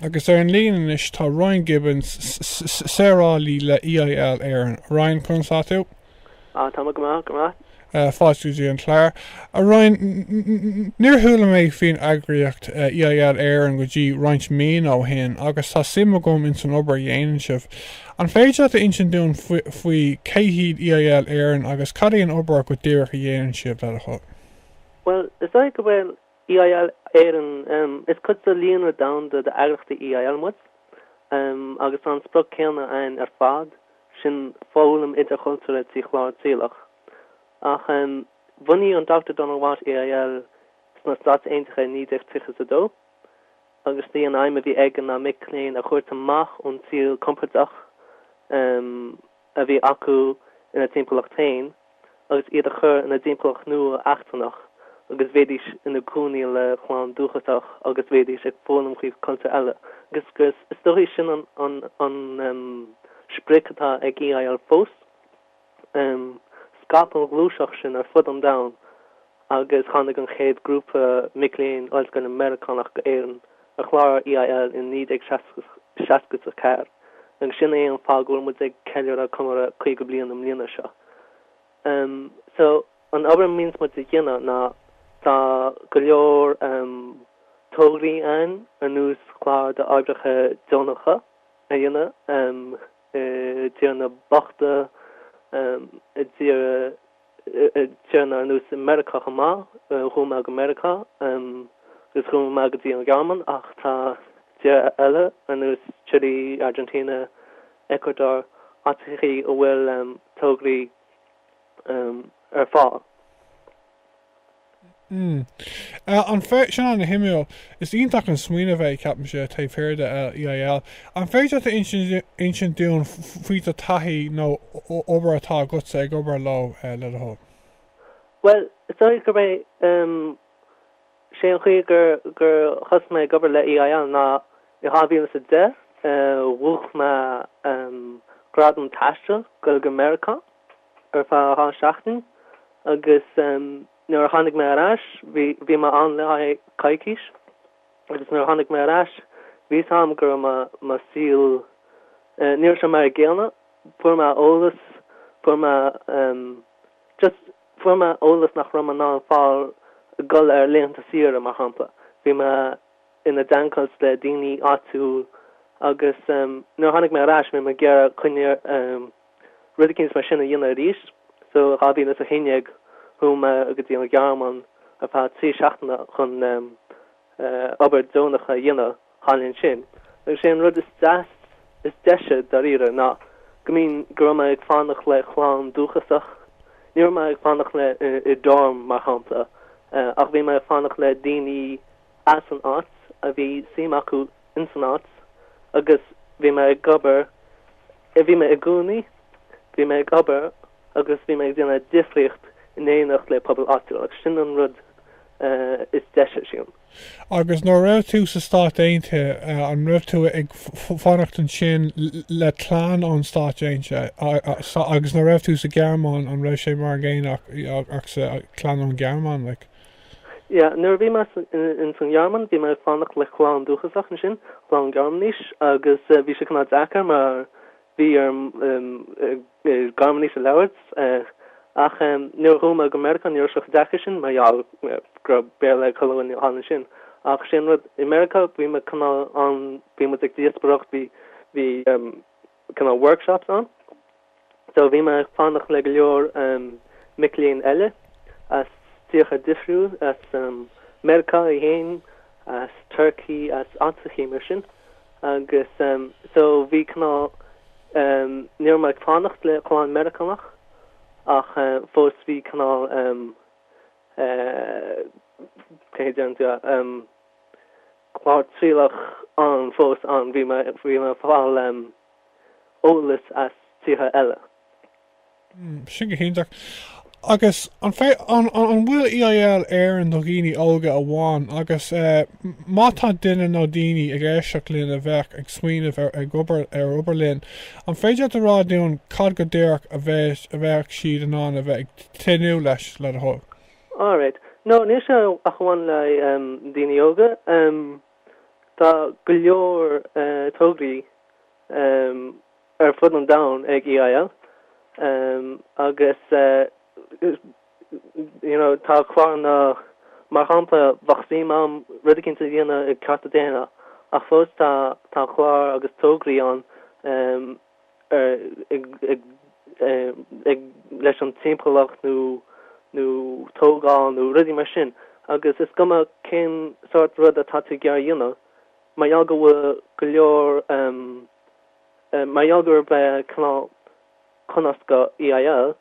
Agus ar an líne anois tá Ryan Gibbons, saorálaí le EIL Éireann. Ryan, conas tá tú? Ah, tá mé go maith, go maith. Fáilte go dtí an clár. A Ryan, níor chuala mé faoin eagraíocht EIL Éireann go dtí roinnt míonna ó shin agus tá suim agam ins an obair a dhéanann sibh. An féidir leat a insint dúinn faoi cé hiad EIL Éireann agus cad é an obair go díreach a dhéanann sibh, le do thoil? Bhuel, is dóigh go bhfuil EIL Éireann. Is cuid de líonra domhanda d'eagraíochtaí EIL muid agus tá an sprioc céanna againn ar fad, sin foghlaim idirchultúrtha trí chlár trialach. Ach bhunaigh an Dr Donald Watt EIL sna Stáit Aontaithe i 1932 agus b'í an aidhm a bhí aige ná mic léinn a thabhairt amach ón tsaol compordach, a bhí acu ina timpeallacht féin agus iad a chur i dtimpeallacht nua eachtrannach agus bheidís ina gcónaí le clann dúchasach agus bheidís ag foghlaim faoi cultúr eile agus is dóigh sin an an an um sprioc atá ag EIL fós um scaip an ghluaiseacht sin ar fud an domhain agus tháinig an chéad grúpa mic léinn ollscoile Meiriceánach go Éirinn ar chlár EIL i 1964 agus sin é an fáth go bhfuil muid ag ceiliúradh comóradh 50 bliain i mbliana seo. So an obair a mbíonns muid a dhéanamh ná tá go leor tograí ann ar nós clár d'oibreacha deonacha a dhéanamh i dtíortha bochta i dtír Tíortha ar nós Meiriceá chomh maith. Chuaigh mé go Meiriceá agus chuaigh mé go dtí an Ghearmáin ach tá tíortha eile ar nós Chile, Argentina, Ecuador, áiteachaí a bhfuil tograí ar fáil. Hm. Eh, an féid, sin an-suimiúil. Is iontach an smaoineamh é, ceapaimse, taobh thiar de EIL. An féidir leat a insint, insint dúinn faoi do taithí nó obair atá agatsa ag obair leo, eh, le do thoil? Bhuel, is dóigh gurb é, em, sé an chaoi gur, gur thosaigh mé ag obair le EIL ná i 2010, eh, bhuach mé, em, gradam taistil ag dul go Meiriceá. ar feadh dhá sheachtain agus nuair a tháinig mé ar ais bhí mé ann le haghaidh coicís agus nuair a tháinig mé ar ais bhí a fhios agam go raibh mo saol ní raibh sé mar a gcéanna fuair mé eolas fuair mé just fuair mé eolas nach raibh mé in ann a fháil ag dul ar laethanta saoire mar shampla bhí mé i dteagmháil le daoine áitiúil agus nuair a tháinig mé ar ais bhí mé ag iarraidh coinne a Rud eicínt mar sin a dhéanamh arís sa 2011 thug mé go dtí an Ghearmáin ar feadh trí seachtaine chun obair deonach a dhéanamh thall ansin agus sé an rud is deise, dáiríre, ná go mbíonn, go raibh mé ag fanacht le clann dúchasach. Ní raibh mé ag fanacht le, i dorm, mar shampla, ach bhí mé ag fanacht le daoine as an áit a bhí suim acu insan áit agus bhí mé ag obair, bhí mé i gcónaí, bhí mé ag obair agus bhí mé ag déanamh difríocht in éineacht le pobal áitiúil agus sin an rud is deise sin. Agus nuair a raibh tú sna Stáit Aontaithe, an raibh tú ag fanacht ansin le clann ó na Stáit Aontaithe agus nuair a raibh tú sa Ghearmáin, an raibh sé mar an gcéanna ach sa, clann ón Ghearmáin, like? Yeah, nuair a bhí mé ins an Ghearmáin, bhí mé ag fanacht le clann dúchasach ansin, clann Gearmáinis, agus bhí sé cineál deacair mar bhí orm Gearmáinis a labhairt. Ach nuair a chuaigh mé go Meiriceá, ní raibh sé chomh deacair sin mar gheall go raibh Béarla ag an gclann thall ansin. Ach sé an rud, i Meiriceá, bhí mé cineál ann, bhí muid ag díospoireacht, bhí cineál workshops ann. So bhí mé ag fanacht le go leor mic léinn eile as tíortha difriúil, as Meiriceá é fhéin, as Turkey, as áiteachaí mar sin agus so bhí cineál, ní raibh mé ag fanacht le clann Meiriceánach ach fós bhí cineál, céard a déarfadh tú, clár trialach ann fós ann, bhí mé, bhí mé ag fáil. eolas as tíortha eile. Sin go hiontach. Agus an bhfuil EIL Éireann do dhaoine óga amháin agus má tá duine nó daoine ag éisteacht linn a bheadh ag smaoineamh ar obair linn, an féidir leat a rá dúinn cad go díreach a bheadh siad in ann a bheith ag tnúth leis, le do thoil? Alright. No, níl sé ach a amháin le daoine óga. Tá go leor tograí ar fud an domhain ag EIL agus tá cláranna mar shampla bheadh suim agam rud eicínt a dhéanamh i gcearta daonna ach fós tá cláir agus tograí ann leis an timpeallacht nó tógáil nó rudaí mar sin agus is cuma cén sórt rud atá tú ag iarraidh a dhéanamh mar gheall go bhfuil go leor mar gheall gurb é cineál comh scoth EIL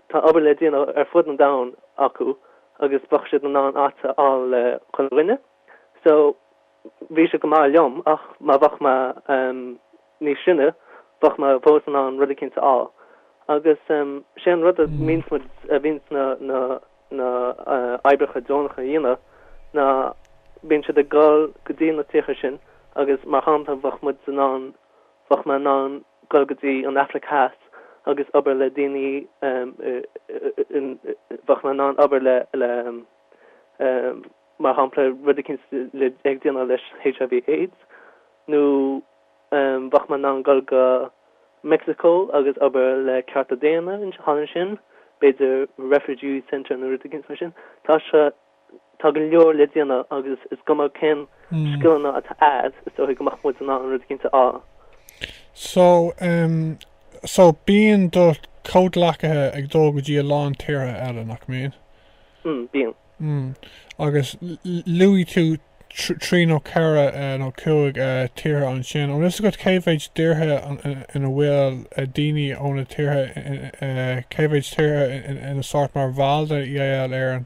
tá obair le déanamh ar fud an domhain acu agus bheadh siad in ann áit a fháil le haghaidh chuile dhuine so Bhí sé go maith liom, ach má bheadh mé níos sine, bheadh mé fós in ann rud eicínt a fháil. Agus sé an rud a bhíonns muid, a bhíonns na, na, na hoibreacha deonacha a dhéanamh ná bíonn siad ag goil go dtí na tíortha sin agus mar shampla bheadh muid in ann, bheadh mé in ann goil go dtí an Afraic Theas agus obair le daoine eh, bheadh mé in ann obair le, le, eh, mar shampla, rud eicínt le déanamh le HIV, AIDS, nó bheadh mé in ann goil go Mexico agus obair le cearta daonna ansin, b'fhéidir refugee centre nó rud eicínt mar sin. Tá sé, tá go leor le déanamh agus is cuma cén scileanna atá agad, is dóichí go mbeadh muid in ann rud eicínt a fháil. So, em, so bíonn do chomhghleacaithe ag dul go dtí a lán tíortha eile, nach mbíonn? Mm, bíonn. Mh. agus luaigh tú trí nó ceithre nó cúig tíortha ansin. An bhfuil fhios agat cé mhéid tíortha ina bhfuil daoine ó na tíortha cé mhéid tíortha ina sórt mar bhall de EIL Éireann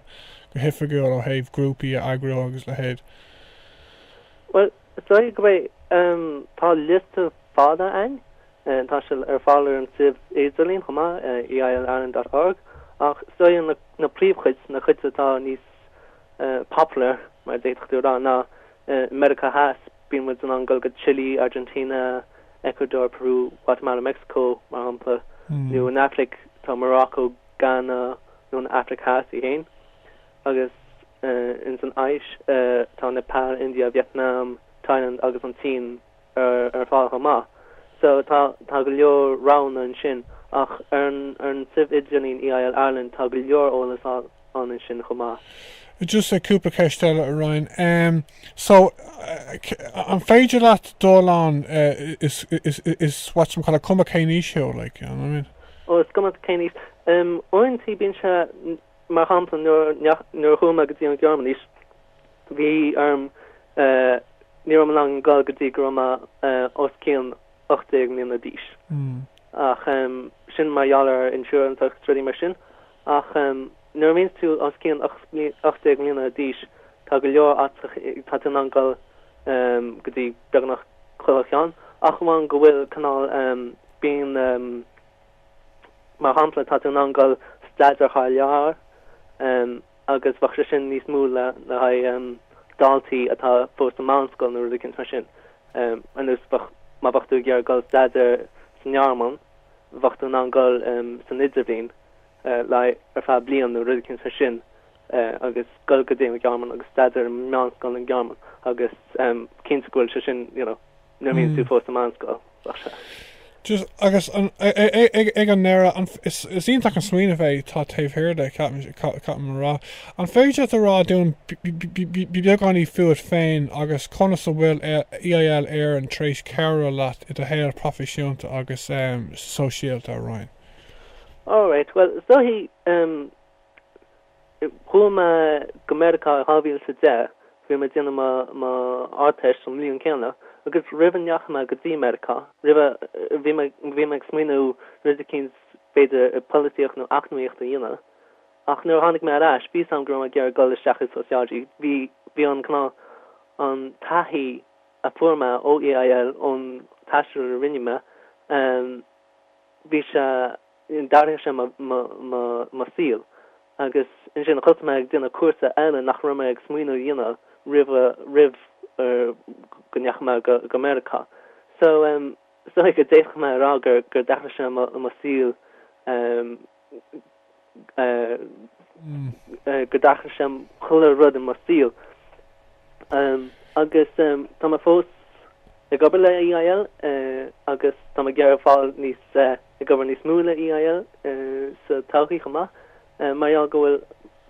go hoifigiúil ó thaobh grúpaí a eagrú agus leithéid? Bhuel, Is dóigh go mbeidh. Tá liosta fada ann, tá sé ar fáil ar an suíomh idirlín chomh maith, eilireland.org, ach is dóigh na príomhchuid, na cuid atá níos popular, mar a d'fhéadfadh tú a rá, ná i Meiriceá Theas, bíonn muid in ann goil go Chile, Argentina, Ecuador, Peru, Guatemala, Mexico, mar shampla, nó san Afraic, tá Morocco, Ghana, nó an Afraic Theas í fhéin. agus ins an Áis tá Nepal, India, Vietnam, Thailand agus an tSín ar fáil chomh maith so tá go leor roghanna ansin ach ar an suíomh idirlín EIL Ireland tá go leor eolas ann ansin chomh maith. Just cúpla ceist eile a Ryan. Em so an féidir leat dul ann is is what you call cuma cén aois thú like you know what I mean? Ó is cuma cén aois. Em uaireantaí bíonn sé Mar shampla, nuair a chuaigh mé go dtí an Ghearmáin anois, bhí orm, ní raibh mé in ann goil go dtí go raibh mé os cionn ocht déag mbliana d'aois, ach sin mar gheall ar insurance agus rudaí mar sin. Ach nuair a bhíonns tú os cionn ocht déag mbliana d'aois, tá go leor, tá tú in ann goil go dtí beagnach chuile cheann, ach amháin go bhfuil cineál, bíonn. mar shampla, tá tú in ann dul staidéar thar lear agus bheadh sé sin níos mó le haghaidh daltaí atá fós sa mheánscoil nó rud eicínt mar sin. Ar nós, má bheadh tú ag iarraidh dul staidéar sa nGearmáin, bheadh tú in ann dul san idirbhliain ar feadh bliain nó rud eicínt mar sin agus dul go dtí an Ghearmáin agus staidéar i meánscoil sa nGearmáin agus cinnte go bhfuil sé sin, you know. Nuair a bhíonn tú fós i meánscoil, bheadh sé. Just agus an, ag an ndeireadh, an, is iontach an smaoineamh é atá taobh thiar de, caithfidh mé a rá. An féidir leat a rá dúinn beagáinín fút féin agus conas a bhfuil EIL Éireann tar éis cabhrú leat i do shaol proifisiúnta agus sóisialta araon? Alright, bhuel, is dóichí, Chuaigh mé go Meiriceá i 2010, bhí mé ag déanamh mo Ardteist an bhliain céanna, agus roimh a ndeachaigh mé go dtí Meiriceá, roimhe, bhí mé, bhí mé ag smaoineamh rud eicínt b'fhéidir i polaitíocht nó eacnamaíocht a dhéanamh. Ach nuair a tháinig mé ar ais, bhí 's a'm go raibh mé ag iarraidh dul isteach i sociology, bhí, bhí an, an taithí a fuair mé ó EIL, ón taisteal a rinne mé, bhí sé, D'athraigh sé mo saol agus ansin chuaigh mé ag déanamh cúrsa eile nach raibh mé ag smaoineamh a dhéanamh roimh go ndeachaigh mé go Meiriceá. So, is dóigh go d'fhéadfadh mé a rá gur d'athraigh sé mo saol, gur d'athraigh sé chuile rud i mo shaol. Agus tá mé fós ag obair le EIL agus tá mé ag iarraidh fáil níos. ag obair níos mó le EIL sa todhchaí chomh maith, mar gheall go bhfuil,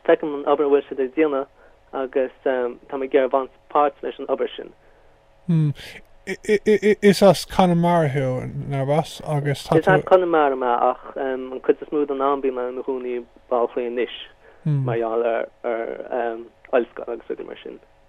feicim an obair a bhfuil siad ag déanamh agus tá mé ag iarraidh baint páirt leis an obair sin. Hm, is as Conamara thú, narbh as? Agus tá tú. Is as Conamara mé ach an cuid is mó den am bíonn mé i mo chónaí i mBaile Átha Cliath anois mar gheall ar ollscoil agus rudaí mar sin.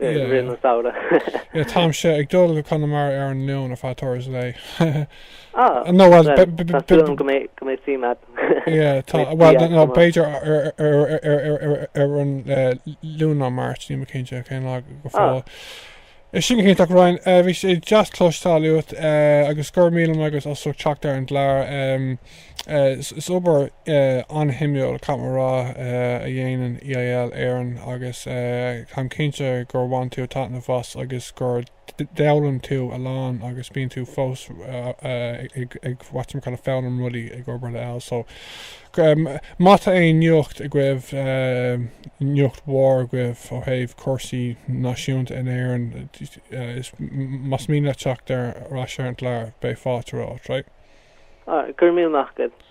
i rith an samhradh. yeah táimse ag dul go Conamara ar an Luan ar feadh turas lae ah no well tá súil a'm go mbeidh go mbeidh suim a't yeah tá well no b'fhéidir ar an Luan nó an Mháirt níl mé cinnte cén lá go ah. fóill Sin go hiontach Ryan, uh, bhí sé deas cloisteáil uait uh, agus go raibh míle maith agat as ucht teacht ar an gclár. Um, Is obair an-shuimiúil, caithfidh mé a rá, a dhéanann EIL Éireann agus táim cinnte gur bhain tú taitneamh as agus gur d'fhoghlaim tú a lán agus bíonn tú fós ag whatchamacalla foghlaim rudaí ag obair le EIL so má tá aon nuacht agaibh, nuacht mhór agaibh ó thaobh cúrsaí náisiúnta in Éirinn, Is más mian leat teacht ar ais ar an gclár, beidh fáilte romhat, right? Go raibh míle maith agat.